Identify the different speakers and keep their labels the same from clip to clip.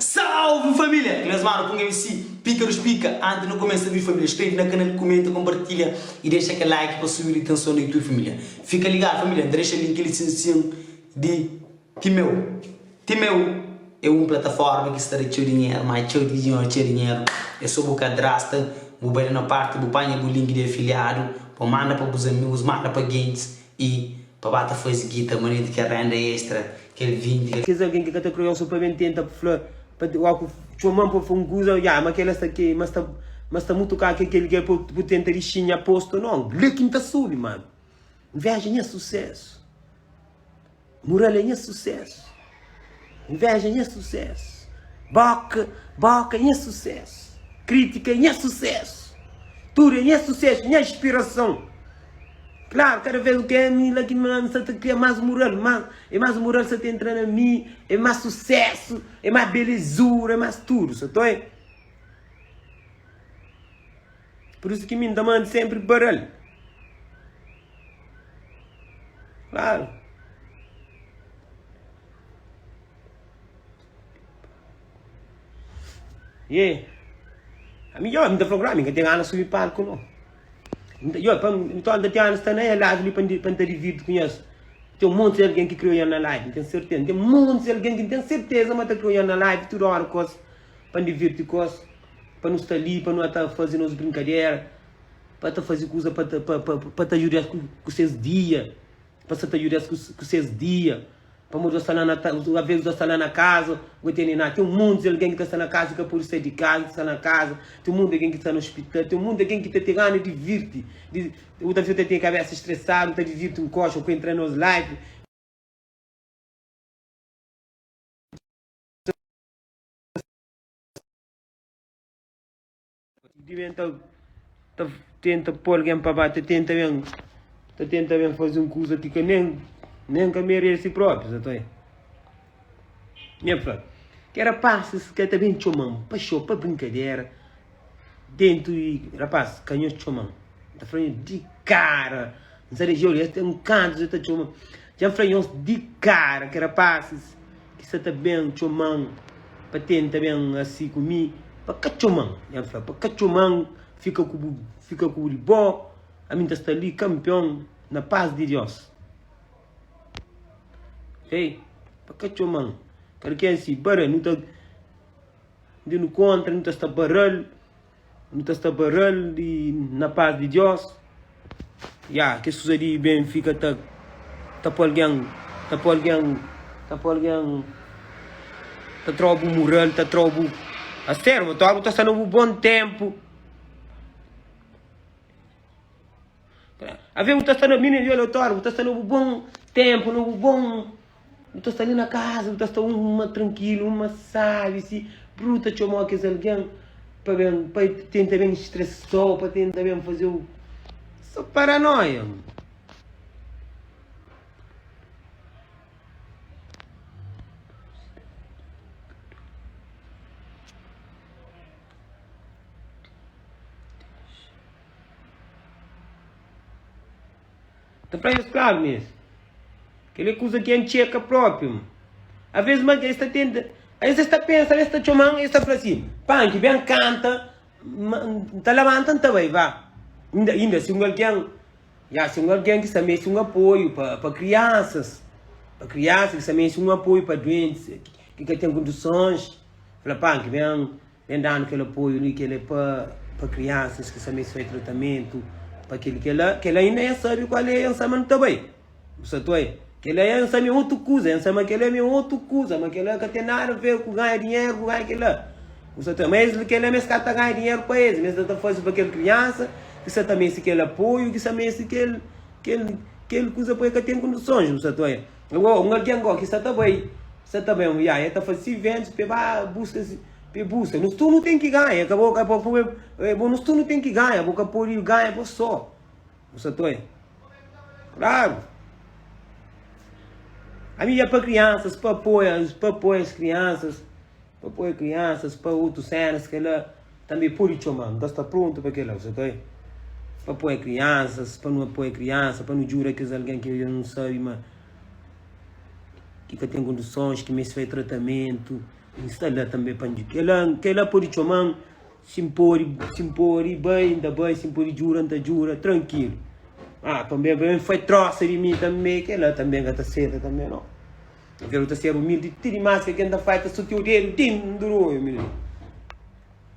Speaker 1: Salve família! Ki mes manu punga MC pika nos pika anti nu kumesa vídiu família skrebe na kanal kumenta konpartilha i dexa kel like pa subi di tenson na youtube família fika ligadu família N ta dexa link li sin sin di Timeu Timeu é un plataforma ki sta da txeu dinheru má txeu di dinheru txeu dinheru é so bu kadrasta bu bai la na parti bu panha bu link di afiliadu pa manda pa bus amigus manda pa gentis y pa ba ta fazi gita manera di kel renda extra kel 20 kel Kes algen ki ka ta kre osa
Speaker 2: pa ben tenta pa fla pa wa ku txoman pa fla un kuza ya ma kel la sta ke ma sta ma sta mutu ka ke kel ke pa bu tenta di xinha posto non le ki n ta subi mano nveja nha susesu. Muralha nha sucesso. Inveja nha sucesso. Boca, boca nha sucesso. Critica é nha sucesso. Tudo é nha sucesso, nha inspiração. Claro, cada vez que é mi lá que me lança, te cria mais moral, mais, é mais moral se te entrar na mim, é mais sucesso, é mais belezura, é mais tudo, só tô é. Por isso que mi nta manda sempre paral. Claro. Yeah. A mi, yo, mi ta fala, mi nunca tem ganas de subir palco, não. Yo, para mim, então, tem ganas de estar na live ali para estar dividido com isso. Tem um monte de alguém que criou na live, não tenho certeza. Tem um monte de alguém que não tenho certeza, mas está criando na live toda hora, coisa. pa N divirti ku es, pa nu sta li, pa nu ata faze nos brinkadera, pa ata faze kuza pa ta pa pa pa ta juda es ku ku ses dia, pa sa ta juda es ku ku ses dia, pamodi gosi sta la na ta alvês gosi sta la na kaza go tene na ten monti di algen ki ta sta na kaza ka pode sai di kaza ki ta sta na kaza ten monti di algen ki ta sta na ospital ten monti di algen ki ta ten gana divirti di otas pesoa ta ten kabesa stresadu ta divirti nkoxa ku entra nos live di ben ta, ta tenta pôr alguém para baixo, ta tenta bem, ta tenta bem fazer um curso que nem, nem que merece próprio, tá aí. Minha fala, que era passa, que tá bem chomam, para show, para brincadeira. Dentu di rapaz ka nhos txoma-m N ta fla-nhos di kara N sa rejeu li es ten kantu dja ta txoma-m Dja N fla nhos di kara Ki rapazis ki sa ta ben txoma-m Pa tenta ben asi ku mi Pa ka txoma-m Dja N fla pa ka txoma-m Fika ku bu fika ku bu di bo Ami N ta sta li kanpion Na pas di Dios Ey pa ka txoma-m Kada ken si bara nu ta. Ndi nu kontra, nu ta sta para-l, nu ta sta para-l di na pas di Diós. Ya, kes kuza di ben fika ta ta pô algen, ta pô algen, ta pô algen ta tra-u bu mural, ta tra-u bu aserva. Tua bu ta sta na bu bon ténpu. Ave bu ta sta na mini violatóriu, bu ta sta na bu bom tempo, na bu bom. Bu ta sta ali na casa, bu ta sta uma tranquilo, uma sabe se bru ta chamou aqueles alguém para bem, para tentar bem estressou, para tentar bem fazer o. Só paranoia. Ta fla es klaru mezi, Kel-li é kuza ki N txeka própi. Ma avês más es ta tenta, es es ta pensa ma es ta txoma-m, es ta fla sin, Panki, ben kanta. Ma N ta labanta, N ta bai. Ba, inda, inda si un algen, ya, si un algen ki sta meste un apoiu pa, pa kriansas, pa kriansa ki sta meste un apoiu pa duentis, ki ka ten kondisons, fla, Panki, ben. Ben danu kel apoiu li kel é pa pa kriansas ki sa meste fai tratamentu pa kel kel la kel la inda nha sabi kual é ensama nu ta bai bu sa toi kel la nha ensama é otu kuza ensama kel la mi é otu kuza ma kel la ka ten nada a ver ku ganha dinheru ku ganha kel la bu sa toi ma es li kel la mi es ka ta ganha dinheru pa es mi es ta ta faze pa kel kriansa ki sa ta meste kel apoiu ki sa meste kel kel kel kuza poi ka ten kondisons bu sa toi. Ô, un algen gó ki sta ta bai, sta ta bai un viaji, el ta faze si ventus pa e ba buska si, pa e buska. Nos tudu nu ten ki ganha, e ka bo, ka bo, e bo, nos tudu nu ten ki ganha, bo ka pode ganha bo sô. Nu sta ta oi. Klaru! Ami dja pa kriansas, pa apoia-s, pa apoia es kriansas. Pa poi kriansas pa otus sénas kela tanbe podi txomanu ta sta prontu pa kela so ka e pa poi kriansas pa nu apoia kriansa pa nu djuda kes algen ki odja nu sabi ma ki ka ten kondisons ki meste faze tratamentu nu sta la tanbe pa dju kela kela podi txomanu si n podi si n podi bai n ta bai si n podi djuda n ta djuda trankilu a tanbe bai n faze trosa di mi tanbe kela tanbe n ka ta seta tanbe no. N krê nu ta ser umildi ti dimás ke ken ta fai ta sotia o dedu tin n duru oi umildi.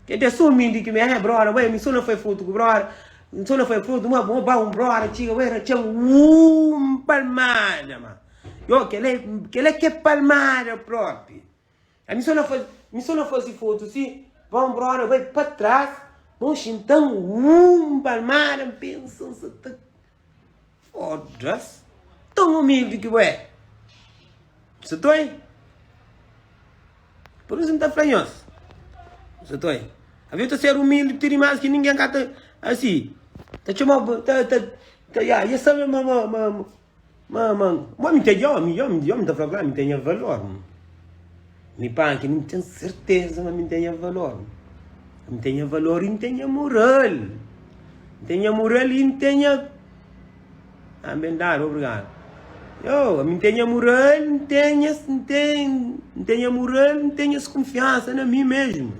Speaker 2: Ken ta so umildi ki mi eh broda bai mi so na fai fotu ku broda mi so na fai fotu ma bo ba un broda txiga bai na txan un palmada ma yo kela kela ke palmada propi. A mi so na fazi, mi so na fazi foto si, pa un brother bai pa tras, nau xinta mu, uum, un palmada, un pensa, un sa ta. Fodas! Tão humilde que bo é! Você tá aí? Por isso não tá flanhos. Você tá aí? A vida ser humilde, ter mais que ninguém cata assim. Tá chamando, tá, tá, tá, yeah, e sabe, mamãe, mamãe. Ma, ma, ma mi ta yomi, yomi, yomi ta fla ku la mi ta nha valor. Mi panki, mi ten serteza ma mi ta nha valor. Mi ta nha valor i mi ta nha moral. Mi ta nha moral i mi ta nha. Ah, ben dadu, obrigadu. Yo, mi ta nha moral, mi ta nha, mi ta nha moral, mi ta nha skunfiansa na mi mesmu.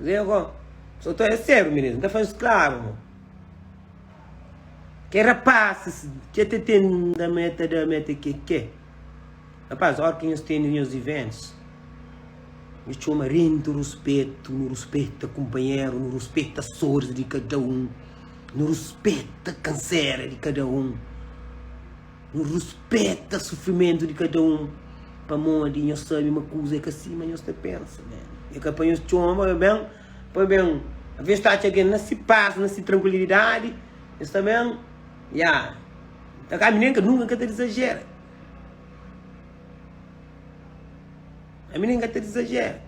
Speaker 2: Zen kon, so ta é séru minês, n ta faze sklavu mo. Ke rapasis ke ta ten nda ma e ta da ma e ta ke ke. Rapaz, ór ki nhos tene nhos iventus, nu txoma rentu ruspetu, nu ruspeta kunpanheru, nu ruspeta soris di kada un, nu ruspeta kansera di kada un. Nu ruspeta sufrimentu di kada un pamodi nhos sabe ma kuza é ka sima nhos ta pensa. É ka pa nhos txoma pa ben, pa ben. Alvês nhos ta atxa algen na se pas, na se trankuilidadi, nhos ta ben, ya. Nta ka, mi nen ka, nunka N ka ta dizajera. Ami nen N ka ta dizajera.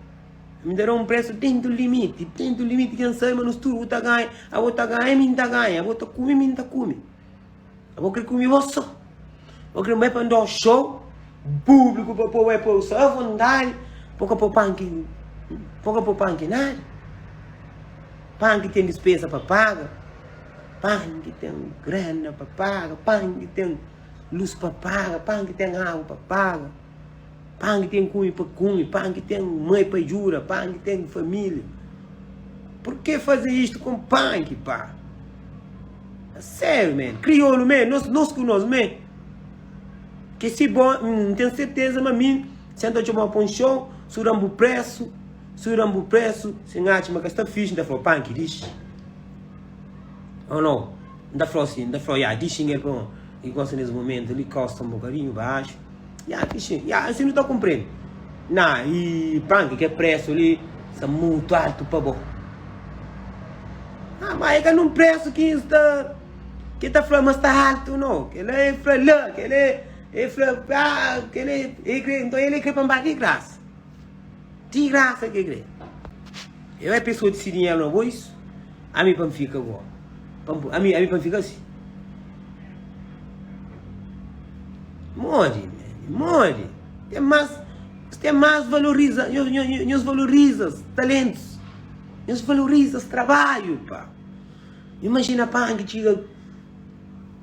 Speaker 2: Ami N ta da un presu dentu di limiti, dentu di limiti, ken sabe ma nos tudu, u ta ganha, abo ta ganha, mi N ta ganha, abo ta kume, mi N ta kume. Abo kre kume bo so. Bo kre bai pa ndó show, públiku pa po bai po sa avondadi. Po ka po panki, po ka po panki nada. Panki ten dispesa pa paga, panki ten grana pa paga, panki ten lus pa paga, panki ten agu pa paga. Pangi tem kumi pa kumi, pangi tem mai pa jura, pangi tem família. Por que fazer isto com pangi, pá? É sério, man. Crioulo, man. Nós, nós com nós, man. Que se bom, não tenho certeza, mas mim, senta de uma ponchão, surambo preço, surambo preço, sem arte, mas que está fixe, ainda falou, pangi, diz. Ou não? Ainda falou assim, ainda falou, já, diz, xinguei, pronto. E gosta nesse momento, ele costa um bocadinho baixo. Ya fixi, ya asi nu ta kunprende. Na i prank ke presu li sta mutu altu pa bo. Ah ma e ka nun presu ki es ta ke ta fla ma sta altu no. Kila e fla la, kila e fla ah kila e kre, nton ele kre pa n ba di grasa. Ti grasa ke kre. Eu é pessoa de sirinha no bois. Ami pa fica agora. Ami ami pa fica assim. Mori, mori. Tem mais, tem mais valoriza, nos valoriza talentos. Nos valoriza trabalho, pá. Imagina pá que chega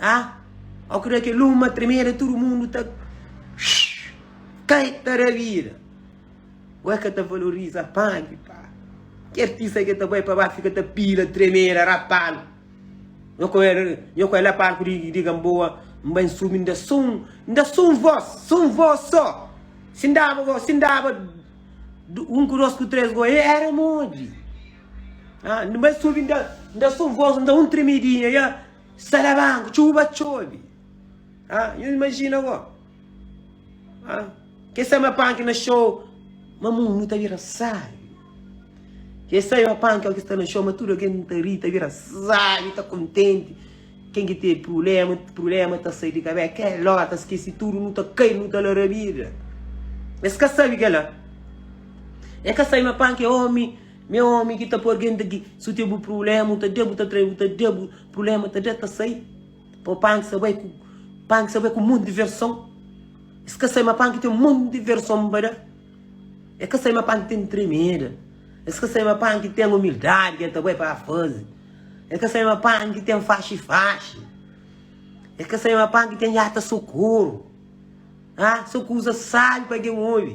Speaker 2: Ah, au ki da kel uma tremeda tudu mundu ta shhh kai ta da vida Ué ka ta valoriza pagi pa Ki artista ke ta bai pa ba fika ta pila tremeda rapal Nho ku el, nho ku el na palku di Gamboa N bai N subi N da so un, N da so un vos, so un vos so Si N daba go, si N daba un ku dos ku tres go, e era modi? Ah, n bai subi, nda, nda só voz, nda un tremidinha, ya. Salabanco, tchuvu ba txobi. Ah, yo imagina go. Ah, ke sa ma panki na show, ma mundu ta bira sabi. Ke sa ma panki o ke sta na show, ma tudo algen ta ri, ta bira sabi, ta kontenti. Ken ki ten prulema, prulema ta sai di kabé, ke ló ta skesi tudo, nu ta kai, nu ta larabida. Es ka sabi kela. E ka sai ma panki é omi. Nha omi ki ta por genta ki su te bu prulema u ta de bu ta trai bu ta de bu prulema ta de ta sai pa u pan ki sa bai ku pan ki sa bai ku monti diverson es ka sai ma pan ki ten monti diverson pa da e ka sai ma pan ki ten tremeda es ka sai ma pan ki ten umildadi ki e ta bai pa fazi e ka sai ma pan ki ten faxi faxi e ka sai ma pan ki ten jata sukuru a so kuza sabi pa gen obi.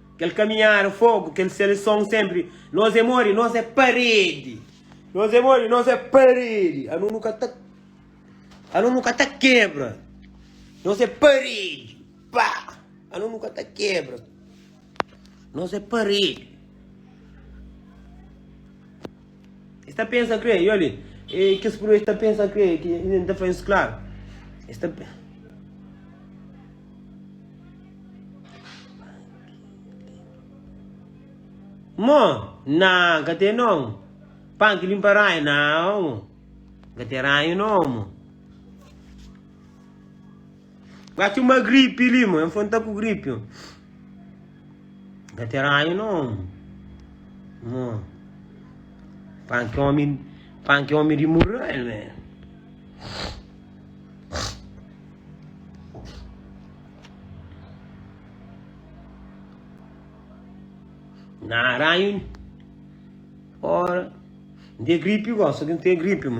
Speaker 2: Kel kaminhada fogu kel seleson senpri nos é modi nos é paredi nos é modi nos é paredi anu nu ka ta anu nu ka ta kebra nos é paredi pa anu nu ka ta kebra nos é paredi. E sta pensa kre, i olhe, e kes pruv e sta pensa kre, ki e nta fla es klaru, e sta pensa. Mo, na, ka te non, pan ki linpa ranhu, na, mo, ka te ranhu no, mo. Ga txeu ma gripi li mo, enfon ta ku gripi mo. Ga ten ranhu non mo. Pan ki omi, pan ki omi di murrel me. Na ranhu ora. Nte gripi gosi, nte gripi mo.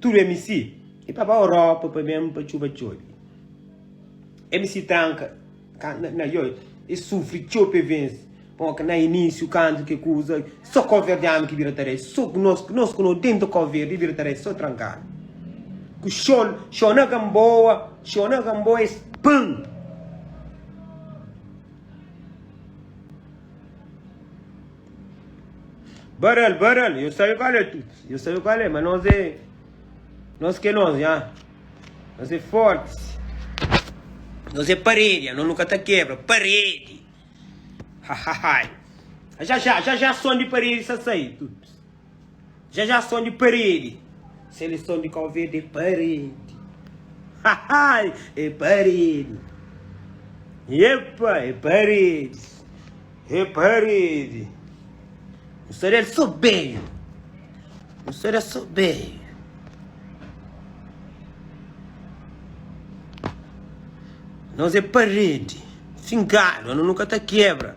Speaker 2: Tudu MC e pa ba Europa pa ben pa txuba txobi MC tranka kanta na yo e sufri txeu pe vense pa ok na inisiu kantu ke kuza so koverdianu ki bira tare so ku nos nos ku no tenta koverdi e bira tare so trankadu ku xo xo na gamboa xo na gamboa es pun Barel, barel, yo sabe kal é tuts, yo sabe kal é, ma nos é, nos ke nos nha, nos é fortis, nos é paredi, nha, nos nu ka ta kebra, paredi, hahahai, ja ja, ja ja, son di paredi sa sai tuts. Dja dja son di paredi. Seleson di Kau Verdi é paredi. Hahai! É paredi. Epa! É paredi. É paredi. N sa del so benhu. N sa del so benhu. Nos é paredi. Fingadu. Anu nu ka ta kebra.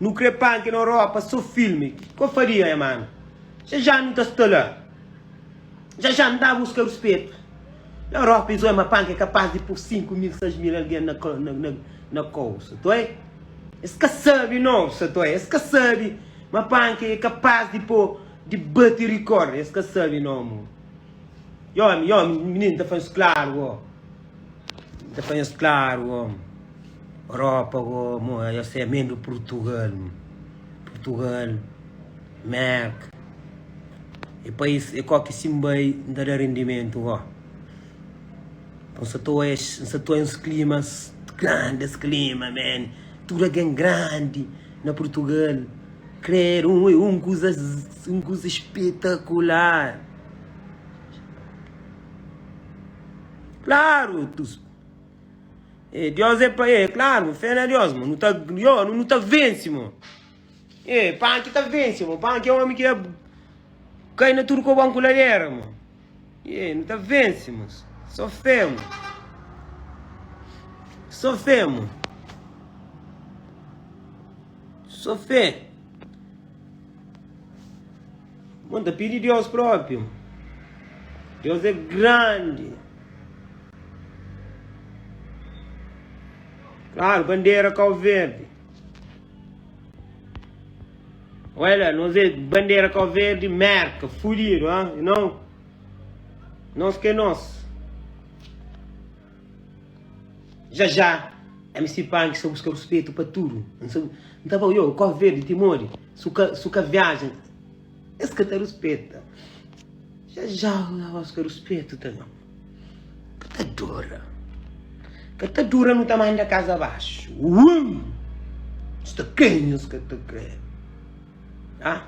Speaker 2: Nu kre panke na Europa so filme kiko faria nha mano ja ja nu ta sta la ja ja nu ta buska ruspetu na Europa es oi ma panke é kapas di pur 5 mil 6 mil algen na na kau sa ta oi es ka sabe non sa ta oi es ka sabe ma panke é kapas di po di bate record es ka sabe non mun yomi yomi mininu ta fla nhos klaru ó. Ta panha-s klaru omi Europa omi oh Esta é mendo Purtugal mi Purtugal Merk E pais e ko ki si N bai N ta da rendimentu oh N sa ta oias N sa ta oias klimas Grandes klima man Tudu algen grandi na Purtugal Krer un é un kuza Un kuza spetakular Klaru, e tus. E Diós é pa e, klaru, fé na Diós, mo. Nu ta yo, nu ta vense, mo. E Panki ta vense, mo. Panki é omi ki é kai na tudu kobon ku ladera, mo. E nu ta vense, mo. Sô fé, mo. Sô fé, mo. Sô fé. Bon ta pidi Deus propi. Deus é grandi. Claro, bandera Cabo Verde. Olha, nós é bandeira Cabo Verde, merca, fudido, hein? não? Nós que é nós. Já já, MC Punk sa buska ruspetu pa tudu N sa N ta ba yo, Kó Verdi, ti modi? Su ka su ka viaja es ka ta ruspeta Já já, N ta buska ruspetu ta na Ka ta dura Ka ta dura nu ta manda kaza baxu Uum Sta kre nhos ka ta kre Ah.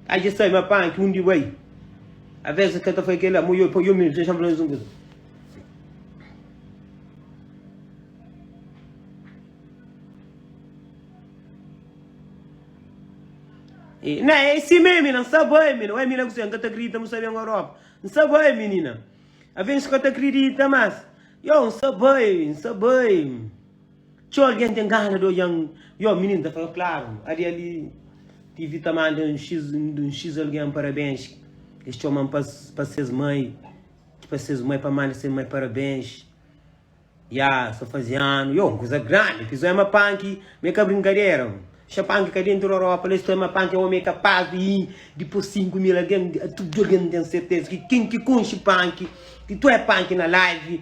Speaker 2: Aji sai ma pan ki undi bai Aves e ka ta fai kela mo yo pa yo mesmo Dexam fla nos un kuza E na é si meme na sa bai mina Ué mina kusé n ka ta kridita mo sa ben Europa N sa bai minina Aves n ka ta kridita mas Yo n sa bai n sa bai. Txeu algen ten gana di odja-m Yo, mininu ta fla, klaru, adi ali Tivi ta manda un xis un xis algen parabens Es txoma-m pa pa ses mai Ki pa ses mai pa manda ses mai parabens Ya, sta faze anu Yo, un kuza grandi Ki zóia ma panki ma é ka brinkadera Xa panki ka dentu da ropa La es ta oi ma panki é omi kapas di i Dipos sinku mil algen Tudu algen ten serteza Ki ken ki konxe panki Ki ta oi panki na live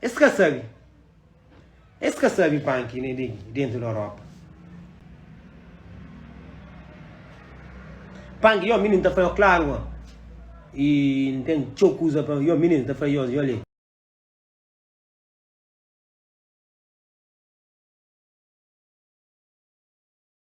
Speaker 2: Es ka sabe. Es ka sabe pan ki ne degi dentu di Europa. Pan ki yo minin ta fla yo klaru ma i N ten txeu kuza pa yo minin ta fla yo yo le.